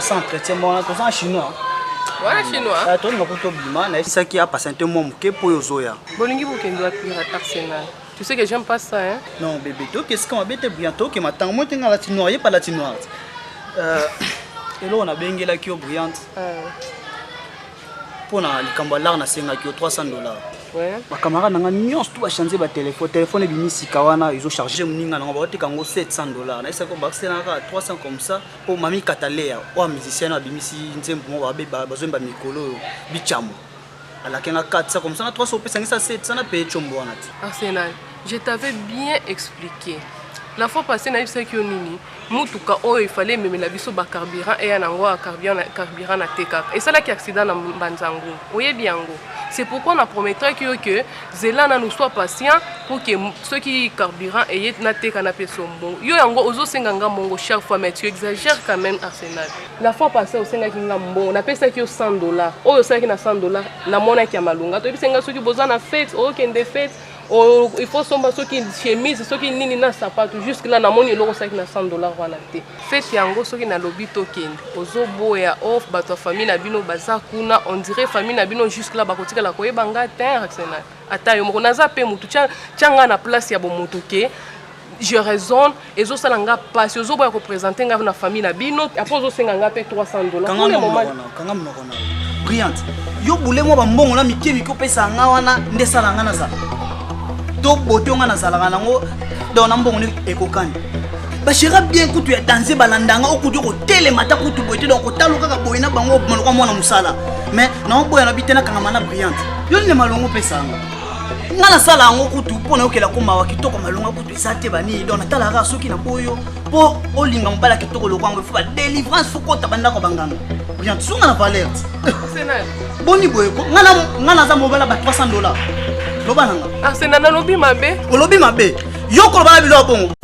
sans entretien mwana toza na chinois wana chinois tolinga kutu obima nayebisaki apasente mwa moke mpo oyo ozoya Bolingi bokende wapi na Arsenal? Tu sais que j'aime pas ça hein. Non bébé, to qu'est-ce qu'on abete bien to que matango moi tenga la tinoire, y'a pas la tinoire. Euh elo on a bengela ki brillante. Euh. Pour na likambo lar na senga ki 300 dollars. Ouais. Ba camarade nanga nyonso tout ba changer ba téléphone, téléphone ebimi sika wana ils ont chargé muninga nanga ba teka ngo 700 dollars. Na esa ko bakse na 300 comme ça pour mami Katalea, wa musicien abimisi nzembo mo ba ba zomba mikolo bichamo. alaki nga 400 comme ça na 300 opesangisa 700 na paye combo wana ti arsenal je t'avais bien expliqué la fois passé nayebisaki yo nini motuka oyo efale ememela biso bacarburant eya na yango carburant na te kaka esalaki accident na mbanzango oyebi yango c'est pourquoi na prometaki yo ke zela nanu soit patient po ke soki carburant eye nateka na peso mbongo yo yango ozosenga nga mbongo chaque fois mais tu exagère quand même arsenal la fois passé osengaki nga mbongo napesaki yo 100 dollar oyo osalaki na 100 dollar namonaki ya malonga toyebisi nga soki boza na fete okende fete il faut somba soki chemise soki nini na sapatu jusque là namoni eloko osalaki na 100 dollar wana te fete yango soki nalobi tokende ozoboya of oh, bato ya famille na bino baza kuna on dirait famille na bino jusque là bakotikala koyeba nga te ata yo moko naza mpe motu tya nga na place ya bomotu ke je raisonne ezosala nga pasi ozoboya kopresente nga na famille na bino apres ozosenga nga mpe 300 dollarsokanga monoko na brillante yo bule mwa bambongo na mike mike opesaka nga wana nde esala nga nazala to boto nga nazalaka nango don na mbongo nde ekokani bashera bien kutu ya danze balandanga okuti okotelema ata kutu boye te donc kotalo kaka boye na bango maloka mwana mosala mais naoboya na bite nakangama na brillante yo nde malongo opesanga nga nasala yango kutu mpo nayokela ko mawa kitoko malonga kutu eza te banini donc natalaka soki na boyo mpo olinga mobala kitoko loko yango ifo badelivrance fo kota bandako banganga bien sunga na valeur boni boye ko nga naza mobala ba 300 dollar loba nanga arsena ah, nalobi mabe olobi mabe yo koloba na biloko bongo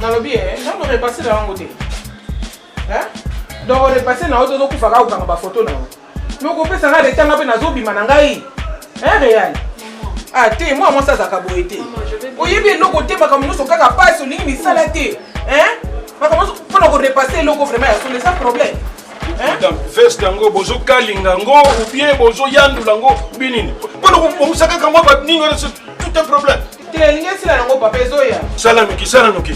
nalobi ye eh, nano repase na yango te eh? donc repase na yo te ozokufa kaka kokanga bafoto na yo me okopesa nga reta nga mpe nazobima na ngai eh, real ah te mwa mwasi azalaka boye te oyebi eloko te makambo nyonso kaka mpasi olingi misala te makambo nyonso mpo na korepase eloko vraiment ya solo eza problème veste yango bozokalinga yango ubie bozoyandula yango ubie nini mpona kobongisaka kango nini wana tout un problème te elingi esila yango papa ezoya sala noki sala noki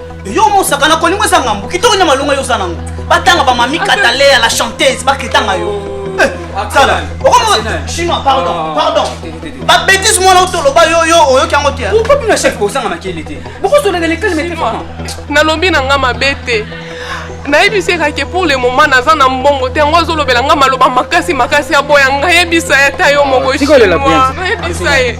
yo mosaka na kolingo eza ngambo kitoko na malonga yo oza nango batanga bamami kataleya la chanteuse bakritanga yo eh, sala okomo chinois pardon ah. pardon babétise mwana otoloba yo yo oyoki yango te okomi na chef kozanga makele te bokozolaka lekali mete nalobi na nga mabe te nayebisa ekake pour le moment naza na mbongo te yango azolobela nga maloba makasi makasi aboya nga yebisa ye ata yo moko chinois nayebisa ye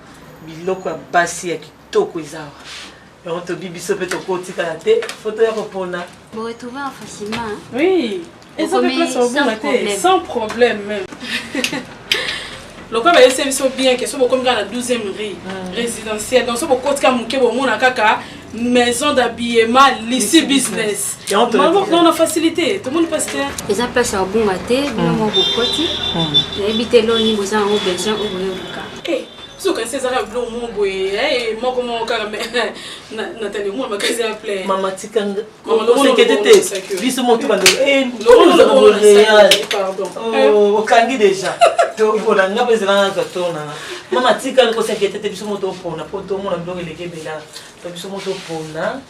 biloko ya basi ya kitoko eza awa yango tobi biso mpe tokotikala te foto ya kopona boretrouver en facilement oui eza mpe place obonga te sans problème même lokola bayebisa biso bien ke so bokomi kaka na 12e rue résidentiel donc so bokotika moke bomona kaka maison d'habillement lisi business non na facilité tomoni mpasi te eza place ya kobunga te bino hmm. mwa bokoti hmm. nayebi te eloni boza yango besoin oyo boyoluka eh, soki kasi ezaka biloko moko boye eh, moko moko kaka natali omona makasi ya plein sekete te biso moko tobanda okangi deja topona nga mpe ezela naka tona mama tikali kosekete te biso moko topona mpo tomona biloko eleki ebela to biso moko topona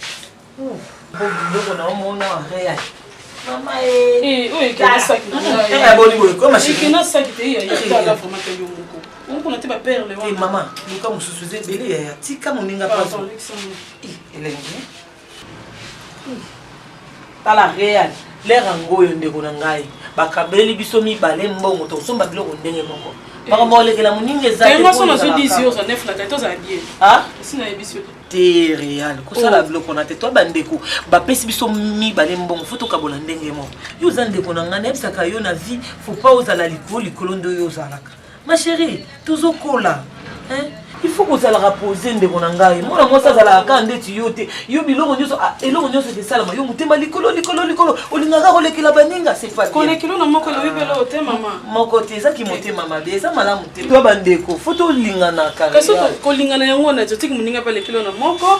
biloko na omona real mama eboni boye komashikinasakieiaaaomokona te baperle wana mama luka mosusu eza ebele yaya tika moninga pazo elengi tala real lere yango oyo ndeko na ngai bakabeli biso mibale mbongo tokosomba biloko ndenge moko makambo olekela moninga ezate real kosala oh. biloko na te to bandeko bapesi biso mibale mbongo fo tokabola ndenge moko yo oza ndeko na ngai nayebisaka yo na vie fo pa ozala likolo likolo nde oyo ozalaka Ma chérie, tozo kola. Hein? il faut kozalaka pose ndeko na ngai mwana mwasi azalaka kaka ndeti yo te yo biloko nyonso ah, eloko nyonso esalama yo motema likolo likolo likolo olingaka kolekela baninga sekolekilo na moko elobi belo te mama moko te eza kimotema mabe eza malamu te to bandeko fo tolinganaka kasi kolingana yango na jotiki moninga mpe alekilo na moko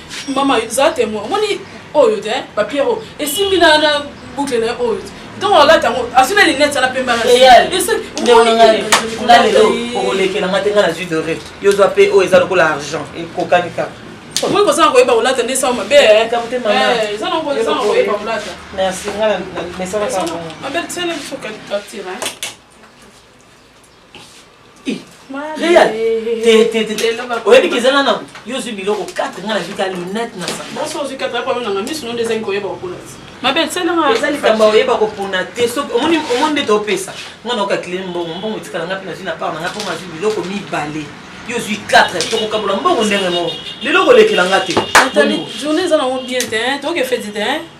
mama zala temoin omoni oyo te papier oyo esimbi na boucle na ye oyo te ntongo alati yango azwi na linete ana pembe nga lelo okolekela nga te nga nazwi dore yo zwa mpe oyo eza lokola argent ekokani kaka okoki kozala koyeba kolata nde sango mabe eza na koyeba kolata merci nga na mesalaka mabe tsele biso kati real oyebi keza nana yo ozwi biloko 4 nga nazwi ka lunette na sangaeza likambo oyeba kopona te omoni nde topesa nga naoka kile mbongo mbongo etikala nga mpe nazwi na part na nga mpo nazwi biloko mibale yo ozwi 4 tokokabola mbongo ndenge moko lelo kolekela nga te journée eza nango bien te toke feti te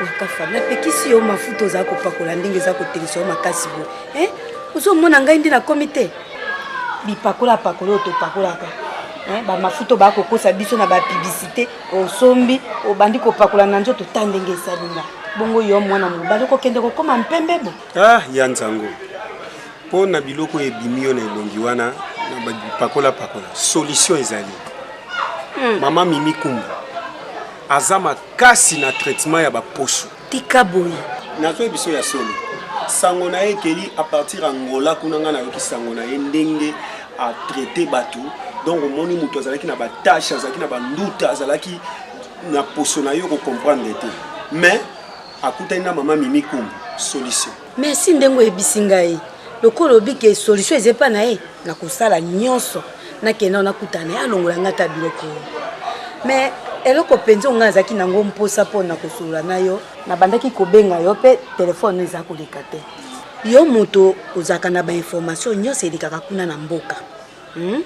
wakafa napekisi yo mafuta oza kopakola ndenge eza kotelisa yo makasi boye eh? ozomona ngai nde nakomi te bipakola pakola oyo topakolaka eh? bamafuta obaa kokosa biso na bapiblisite osombi obandi kopakola na nzoto ta ndenge esalinga bongo yo mwana mobali okokende kokoma mpembe bo ah, ya nzango mpo na biloko oyo ebimi yo na elongi wana na bapakola pakola solution ezali hmm. mama mimi kumbu aza makasi na traitement ya baposo tika boye nazoyi biso ya solo sango na ye ekeli a partir ya ngola kuna ngai nayoki sango na ye ndenge atraite bato donc omoni moto azalaki na batashe azalaki na banduta azalaki na poso na yo kocomprendre te mais akutani na mama mimi kumbu solution merci ndenge oyebisi ngai lokola obike solution eza epa na ye nakosala nyonso nakenda nakutana ye alongola ngai ata biloko mais eloko mpenza ongai azalaki nango mposa mpo na kosolola na yo nabandaki kobenga yo mpe telefone eza koleka te yo moto ozalaka na bainformation nyonso elekaka kuna na mboka Hmm?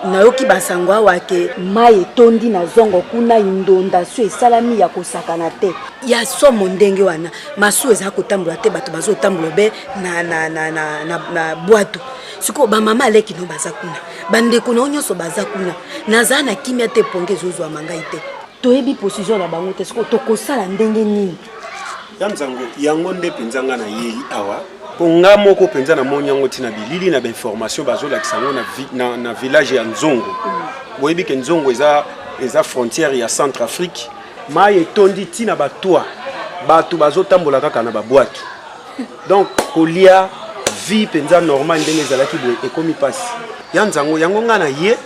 nayoki basango awa ke mai etondi na zongo kuna indondasio esalami ya kosakana te ya somo ndenge wana masuwa eza kotambola te bato bazotambola be na, na, na, na, na, na bwato sikoyo bamama aleki no baza kuna bandeko na yo nyonso baza kuna nazala na kimia te ponge ezozwama ngai te toyebi position na bango te sikoyo tokosala ndenge nini ya mzango yango nde mpenza ngai nayei awa mpo nga moko mpenza namoni yango ntina bilili na bainformation bazolakisa yango na, na, na village ya nzongo mm. boyebi ke nzongo eza, eza frontière ya centre afrique mai etondi ntina batwa bato bazotambola kaka na babwatu donc kolia vie mpenza normal ndenge ezalaki boye ekomi mpasi ya nzango yango ngai na ye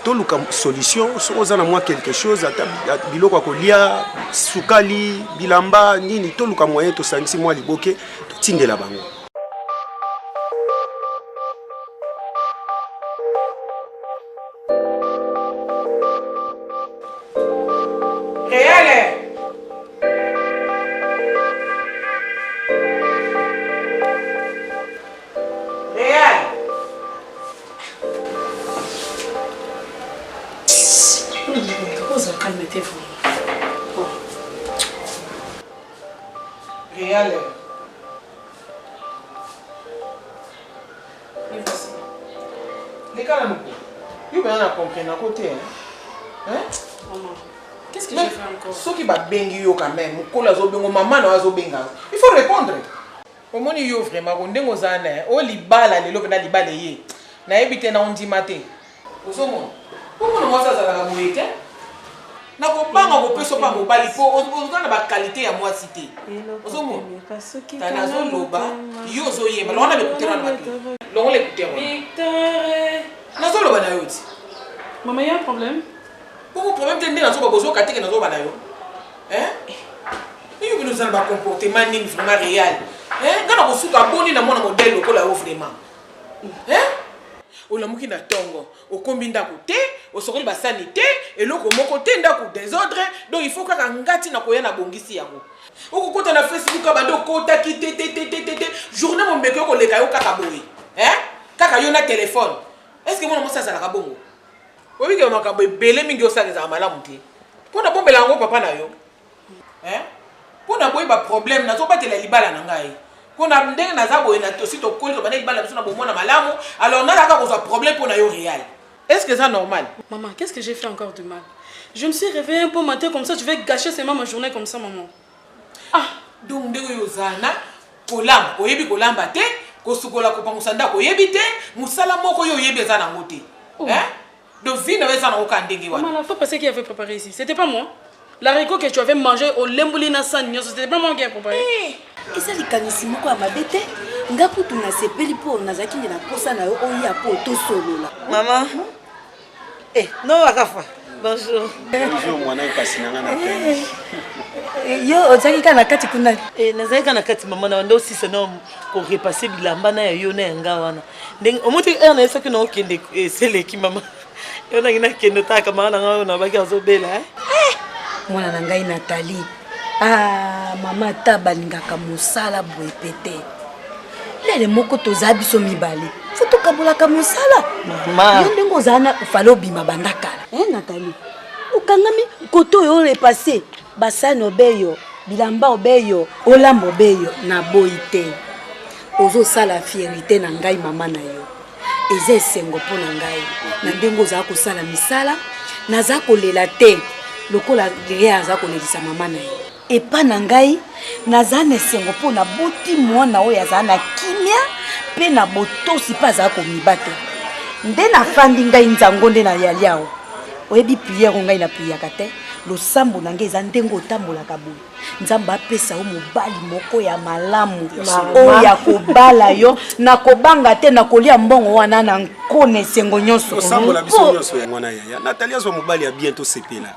toluka solution soki oza na mwa quelque chose ata biloko ya kolia sukali bilamba nini toluka moyen tosangisi mwa liboke totindela bango Reale. Et voici. Les gars, nous. Yo, ben, on a compris, on a côté. Hein? Maman. Qu'est-ce que j'ai fait encore? Ceux qui battent bengi yo quand même, ou kola zo bengo, maman no azo benga. Il faut répondre. omoni yo vraiment ko ndenge oza na o libala lelo mpena libala eye nayebi te na ondima te ozomona po mwana mwasi azalaka boye te na kobanga kopesa opa mobali po oza na bakalite ya mwasi te ozomona azoloba yo ozoyemba longo na bekuterana bato longo na ekuterana nazoloba na yo ti mama ya problème poko problème te nde nazoba bozoka teke nazoba na yo yo bino oza na bacomportement nini vraiment réel nga na kosuka boni na mwana modele lokola yo vraiment Hein? olamuki na tongo okombi ndako te osokoli basani te eloko moko te ndako desordre donc il faut kaka ngati na koya na bongisi yango okokota na facebook abandi okotaki te te te te te te journée mombeko okoleka yo kaka boye eh? kaka yo na telefone est ce que mwana mwasi azalaka bongo oyebike makambo ebele mingi osalaka ezalaka malamu te mpo na bombela yango papa na yo eh? mpo na boye baproblème nazobatela libala na ngai mpo na ndenge naza boye na tosi tokoli tobanda libala biso na bomona malamu alors nalaka kozwa problème mpo na yo réel est ce que eza normal maman qu'est ce que j'ai fait encore de mal je me suis réveillé un peu matin comme ça tu vais gâcher seulement ma journée comme ça maman ah donc ndenge oyo oza na kolamba oyebi kolamba te kosukola kopangusa ndako oyebi te mosala moko yo oyebi eza nango te oh. eh? Donc vie na eza na oka ndenge wana. Maman, faut penser qui avait préparé ici. C'était pas moi. La rico que tu avais mangé au lembuli na sani nyoso, c'était pas moi qui ai préparé. Hey. Eh, eza likanisi moko ya mabe te nga kutu nasepeli mpo nazalaki nde na mposa na yo oya mpo tosolola mama eh, no akafa bonjour mwana mpasi na nga na eh, eh, yo ozalaki kaka na kati kuna nazalaki kaka na kati mama na wanda osisa na korepasse bilamba na ya yo na ya nga wana ndenge omoni te heure na ye soki na okende eseleki mama yo nangi nakende otala kamara na ngai oyo nabaki azobela eh? eh, mwana na ngai natali ah, mama ata balingaka mosala boye mpe te lele moko toza biso mibale fo tokabolaka mosala yo ndenge ozala na fale obima banda kala e eh, natali okangami kote oyo olepase basani obeyo bilamba obeyo olamba obeyo naboyi te ozosala fierite na ngai mama na yo eza esengo mpo na ngai na ndenge ozala kosala misala naza kolela te lokola lea aza kolelisa mama na ye epa na ngai naza na esengo mpo naboti mwana oyo azala na kimia mpe na botosi mpe azala komibatela nde nafandi ngai nzango nde nayali awa oyebi priere ngai napiyaka te losambo na ngai eza ndenge otambolaka boye nzambe apesa yo mobali moko ya malamu oyo ya kobala yo na kobanga te na kolia mbongo wana na nkona esengo nyonso osambola biso nyonso yango na yaya natali azwa mobali ya bien tosepela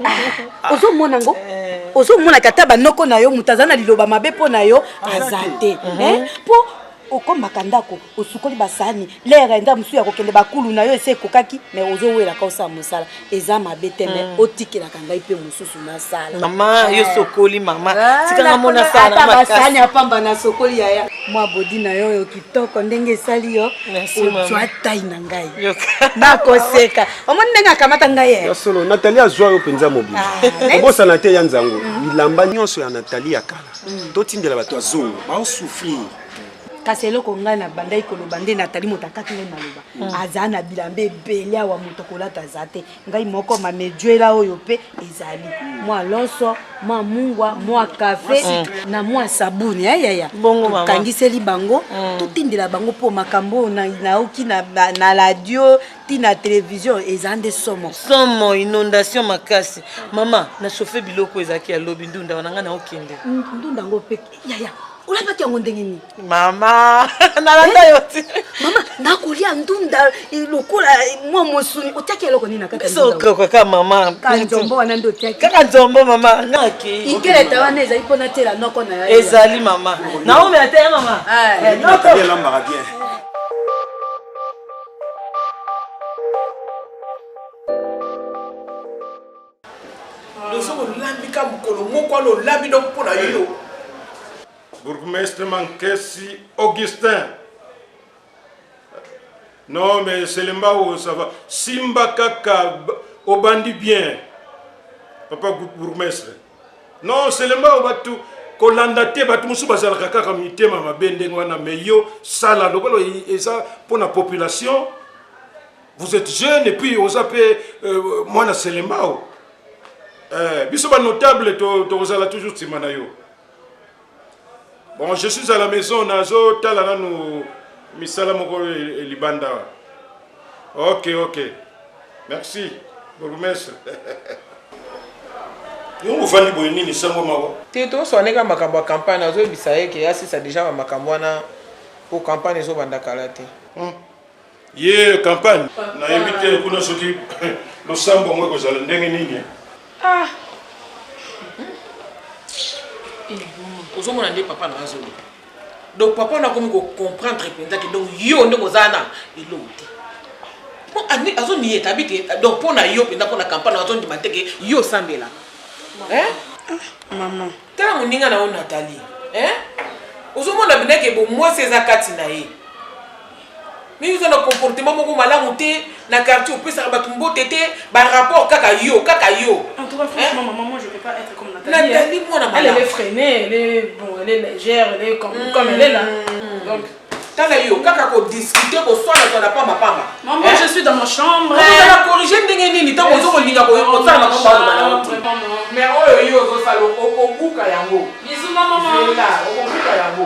ah, ozomona yango eh. ozomonaka ata banoko na yo moto aza na liloba mabe mpo na yo aza te mpo eh? mhm. okombaka ndako osukoli basani lere enda mosusu ya kokende bakulu na yo esi ekokaki me ozowelaka osala mosala eza mabe te me mm. otikelaka ngai mpe mosusu nasala mama eh. yo sokoli mama ah, tikanga mona sala basani ya pamba na sokoli yaya mwa bodi na yo oyo kitoko ndenge esali yo ozwa tai na ngai nakoseka omoni ndenge akamata ngai eh? ya solo natali azwa yo mpenza mobili ah, obosana te ya nzango mm. bilamba nyonso ya natali ya kala mm. totindela bato ya zongo baosouffrir kasi eloko ngai na bandaki koloba nde natali moto akati ngai maloba mm. aza na bilamba ebele awa moto kolata aza te ngai moko mamejuela oyo mpe ezali mm. mwa loso mwa mungwa mwa kafe mm. na mwa sabuni yayaya tokangiseli bango totindela bango mpo makambo oyo nayoki na radio tina television eza nde somo somo inondation makasi mama na chauffe biloko ezalaki ya lobi ndunda wana ngai naokende ndunda yango mpe yaya olabaki yango ndenge nini mama nalanda yo ti eh, mama nakolia ndunda eh, lokola eh, mwa mosuni otiaki eloko nini na katiokaka mama kanzombo wana nde otiaki kaka nzombo mama ngaki inkeleta wana ezali mpo natela noko na yo ezali mama naomi ata ye mama noko elambaka bien lozo lolambi ka mokolo moko wana olambi donc mpo na yo bourgmestre mankesi augustin non mais selembao ça va simba kaka obandi bien papa bourgmestre non selema oyo batu kolanda te bato mosusu bazalaka kaka mitema mabe ndenge wana mais yo sala lokola eza mpona population vous êtes jeune et puis oza mpe euh, mwana selembao euh, biso banotable tokozala to toujours nsima na yo Bon, je suis à la maison, nazo tala nanu misala moko libanda. Ok, ok. Merci, bourgmestre. yongo ofandi boye nini sango moko te toswane ka makambo ya campagne azoyebisa ye ke asisa deja bamakambo wana po campagne ezobanda kala te hmm. ye campagne nayebi te kuna soki losambo yango ekozala ndenge nini ah. ozomona nde papa na azoloba donc papa na akomi kocomprendre mpenza ke donc yo nde kozala na eloko te mpo azoniye etabi te donc mpo na yo mpenza mpo na campagne azondima te ke yo osambela mama Tala moninga na yo Nathalie hein? Ozo mona bina ke bo mwasi eza kati na ye. Mimi oza na comportement moko malamu te na quartier opesaka bato mbote te ba rapport kaka yo kaka yo. En tout cas franchement maman moi je peux pas être comme Nathalie. Nathalie mwana malamu. Elle est freinée, elle est bon, elle est légère, elle est comme comme elle est là. Donc tala yo kaka ko discuter ko swana swana pamba pamba maman eh? je suis dans ma chambre on va corriger ndenge nini tango ozo kolinga ko ko sala ko ba ba na mais oyo yo ozo sala ko ko buka yango bisous maman là ko buka yango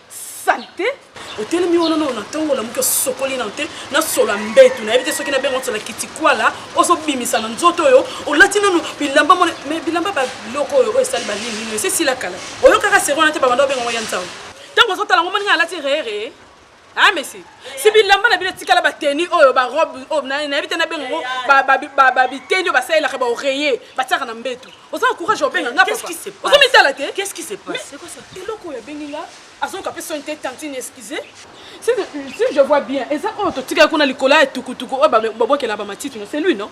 salite otelemi wana nao na ntongo olamuki osokoli nao te na solo ya mbetu nayebi te soki nabenga solo ya kitikwala ozobimisa na nzoto oyo olati nano bilamba mona me bilamba biloko oyo oyo esali balingi esi esila kala oyokaka seri wana te babanda obenga ngo ya nzau ntango ozotala ngo moni ngai alati rere a ah, mesi si bilamba na bino etikala bateni oyo barobe oyo nayebi te nabenga yango babiteni oyo basalelaka baoreye batiaka na mbetu oza na courage obenga nga ozo mitala te eloko oyo abengi nga azoyoka mpe soni te tantine excuse si je vois bien eza oyo totikali kuna likolo ya tukutuku oyo babwakela bamatiti no c'est lui non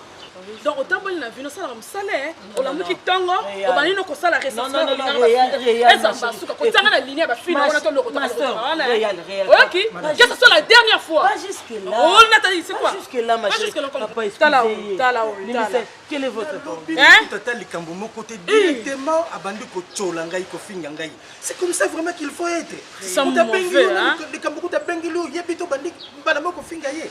donc otamboli na vino osalaka mosala eh? olamuki ntongo obandi no kosala resansezambasuka kotianga na linie ya bafilme wana tolokotaoyoki kesa so la dernière fois olinatali sikwaatata likambo moko te directement abandi kotyola ngai kofinga ngai c'est comme ça vraiment qu'il faut être likambo kuta bengeli oyebi to bandi mbala moko kofinga ye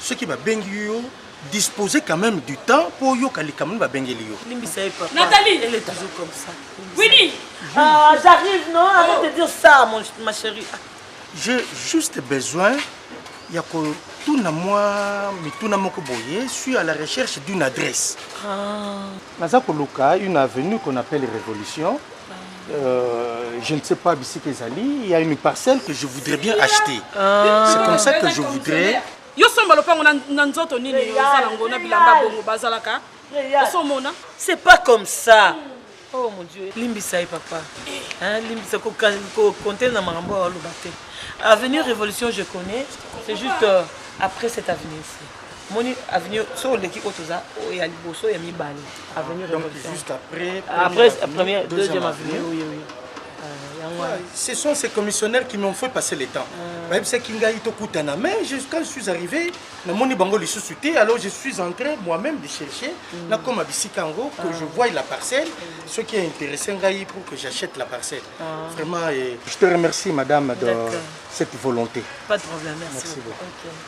soki babengi yo disposer quand même du temps mpo oyoka likambo nini babengeli yo limbisa ye papa nathalie elle est toujours comme ça winnie ah j'arrive non avant de dire ça mon ma chérie j'ai juste besoin ya kotuna mwa mituna moko boye suis à la recherche d'une adresse ah. naza koluka une avenue qu'on appelle révolution Euh, je ne sais pas bisika ezali il y a une parcelle que je voudrais bien acheter ah. c'est comme ça que je voudrais yo somba lopango na nzoto nini oza nango na bilamba bongo bazalaka osomona c'est pas comme ça oh mon dieu limbisa ye papa hein, limbisa kokonte na makambo oyo aloba te avenir révolution je connais c'est juste euh, après cette avenir ci moni avenue so oleki oyo toza ya liboso ya mibale avenue première deuxième avenue oui, oui. Euh, ce sont ces commissionnaires qui m'ont fait passer le temps euh. bayebisaki ngai tokutana mais quand je suis arrivé namoni bango lisusu te alors je suis entré moi-même de chercher mm. nakoma bisika yango que ah. je voie la parcelle mm. ce qui a intéressé ngai pour que j'achète la parcelle ah. vraiment je te remercie madame de cette volonté pas de problème merci, merci beaucoup, beaucoup. Okay.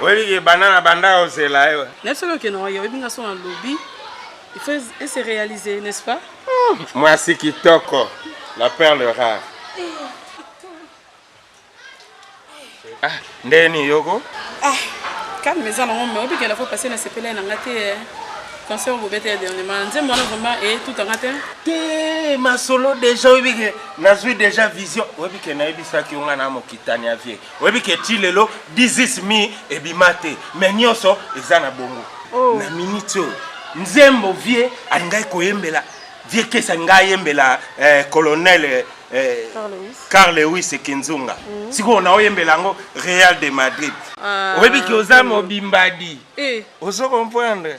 Oyebi ke banda na banda ya ozela yo. Eh. Na solo ke na wayo oyebi nga sona lobi. Il faut e se réaliser, n'est-ce pas? Hmm, moi si kitoko, la perle rare. Ah, ndeni yoko? Ah, calme eza na ngombe, oyebi ke la fois passée na sepela na ngate. Eh. Concert bobete ya dernièrement, nzembo wana vraiment e eh, tout anga te. Te masolo déjà oyebi ke nazwi déjà vision. Oyebi ke nayebisaki yo nga na mokitani ya vie. oyebi ke ti lelo dizis mi ebima te me nyonso eza na bongo oh. na miniti oyo nzembo vie alingaki koyembela vie kesi alinga ayembela eh, colonel eh, eh carl lewis kinzunga mm. sikoyo na oyembela yango real de madrid ah, oyebi ke oza mobimbadi eh. ozo comprendre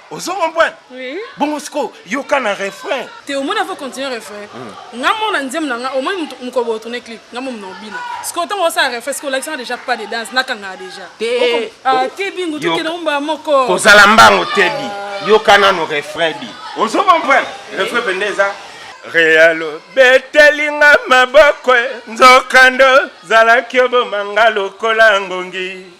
ozo comprendre oui. bongo sikoyo yoka na refrain te omoni afo continue refrain mm. nga mona nzembo na nga omoni mokolo botourne clip nga momo na obina sikoyo ntango osala refrain sikoyo olakisanga déjà pas de danse nakangaka déjà te ah, bingu tokende omba moko kozala mbango tebi ah. yoka nano refrain bi ozo comprendre refrain mpenza eza realo betelinga maboko nzokando zalaki obomanga lokola ngongi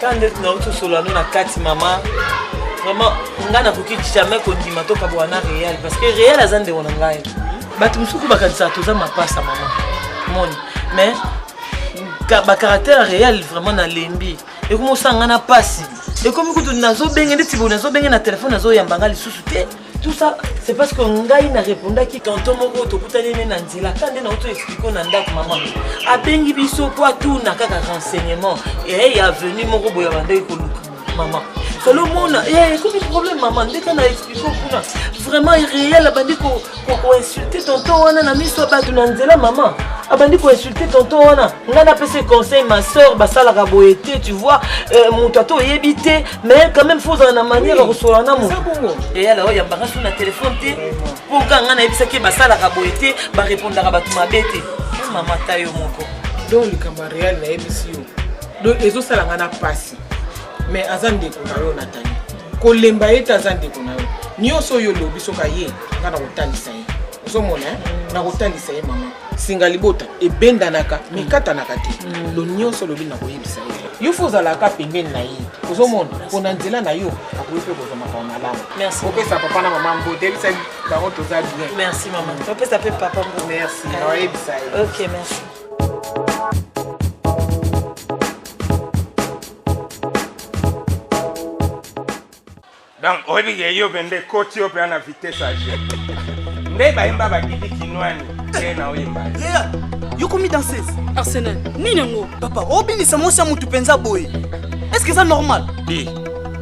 kaka nde tunauti osolola no na kati mama vraiment ngai nakoki jamais kondima tokabola na real parce que real aza ndeko na ngai bato mosuku bakanisaka toza mapasa mama moni mais bacaractère real vraiment nalembi ekomi osanga na mpasi ekomi kutu nazobenge neti boye nazobenge na telefone nazoyamba ngai lisusu te tout ça c'est parce que ngai na répondaki tonton moko tokutani ne na nzela ka nde nauti explike na ndako mama abengi biso po atuna kaka renseignement eye ya venu moko boye abandaki koluka mama solo omona eh, ekomi problème mama ndeka na explike kuna vraiment réel abandi koinsulte tonton wana na miso ya bato na nzela mama abandi koinsulte tonton wana ngai napesi conseil ma soeur basalaka boye te tu vois euh, moto ata oyebi te mais quand même fozala na manière ya kosola na moto eyala oyo yambaka so na telefone te mpo kaka ngai nayebisaki basalaka boye te barepondaka bato mabe te oh, mama ta yo moko don likambo ya real nayebisi yo don ezosala ngai na mpasi mais aza ndeko na yo natani kolemba ye te aza ndeko na yo nyonso oyo olobi soki aye ngai nakotalisa ye ozomona eh? nakotalisa ye mama singa libota ebendanaka mikatanaka te mm. lo nyonso olobi na koyebisa ye yo fo ozalaka pembeni na ye ozomona mpona nzela na yo akoki mpe kozwa makambo malamu opesa papa na mama mbote yebisa bango toza bien merci mama opesa mpe papa mbo merci oyebisa ye ok merci Donc oyebi ke yope nde koti yope ana vitesse ya jeu. Nde bayemba ba Didi Kinwani te na oyemba. Lea, yo komi danseuse. Arsenal, nini yango? Papa, obinisa mwasi ya mutu penza boye. Est-ce que eza normal? Di,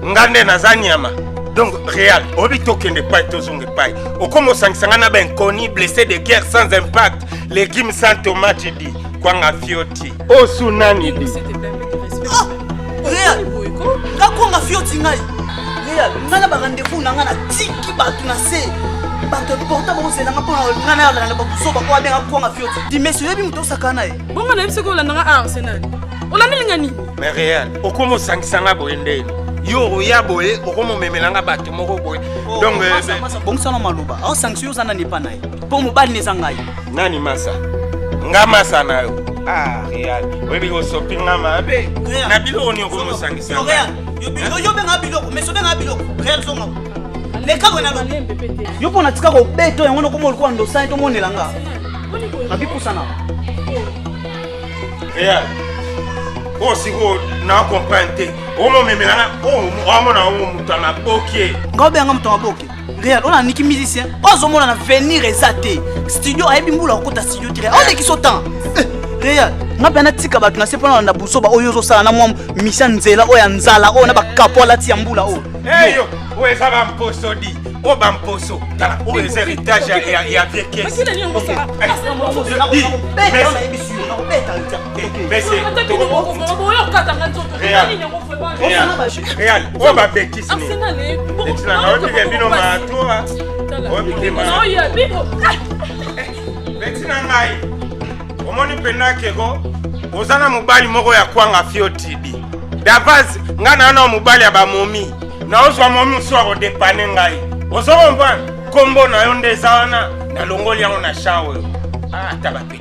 nga nde naza nyama. Donc Real, oyebi tokende epai tozonga epai. Okoma osangisa nga na ba inconnu blessé de guerre sans impact, legume sans tomate di kwanga fioti. osu nani di ah, real kakonga fioti ngai real ngai na barendez-vous na ngai na tiki bato na se bato porta bakozelanga mpona ngai na yalana bakuzoba oyo abenga kwanga fioti dimesi oyebi moto osakana na ye bongo nayebi soki olandanga a arsenal olandelinga nini mais real okoma osangisa ngai boye nde yo oya boye okomomemela ngai bato moko boye oh, donc eh, eh. bongisana maloba aosangisa yo oza nani epa na ye mpo mobali na eza ngai Nani masa? Nga masa na yo. Ah, real. Webi osopi nga mabe. Na biloko ni okomosangisa. Yo real. Yo biloko, yo benga biloko, mais so benga biloko. Real zonga. Leka bona lo. Yo pona tika ko beto yango na komo lokwa ndo sai to monela nga. Mabi pusana. Real. Oh, si vous na comprendre te. Omo memelana, oh, omo na omo mutana bokie. Nga obenga mutana bokie. real oyo naniki musicien oyo azomona na venir eza te studio ayebi mbula okota studio te real olekisa otan eh, real nga mpe natika bato na se mpo nalanda buzoba oyo ozosala na mwa misia nzela oyo ya nzala oyo na bakapo alati ya mbula oyo eyo oyo eza bamposo di oyo bamposo tala oyo eza heritage ya vie kesi real oyo babeki Arsenal eh Etina na oyo bika bino matoa Oyo bika ma Oyo ya bino Beti na ngai Omoni penda keko Oza na mobali moko ya kwanga fio tibi Davaz nga na na mobali ya bamomi Na ozwa momi mosusu akodepane ngai Ozo komprendre Kombo na yo nde eza wana Na longoli yango na chan oyo Ah ata bape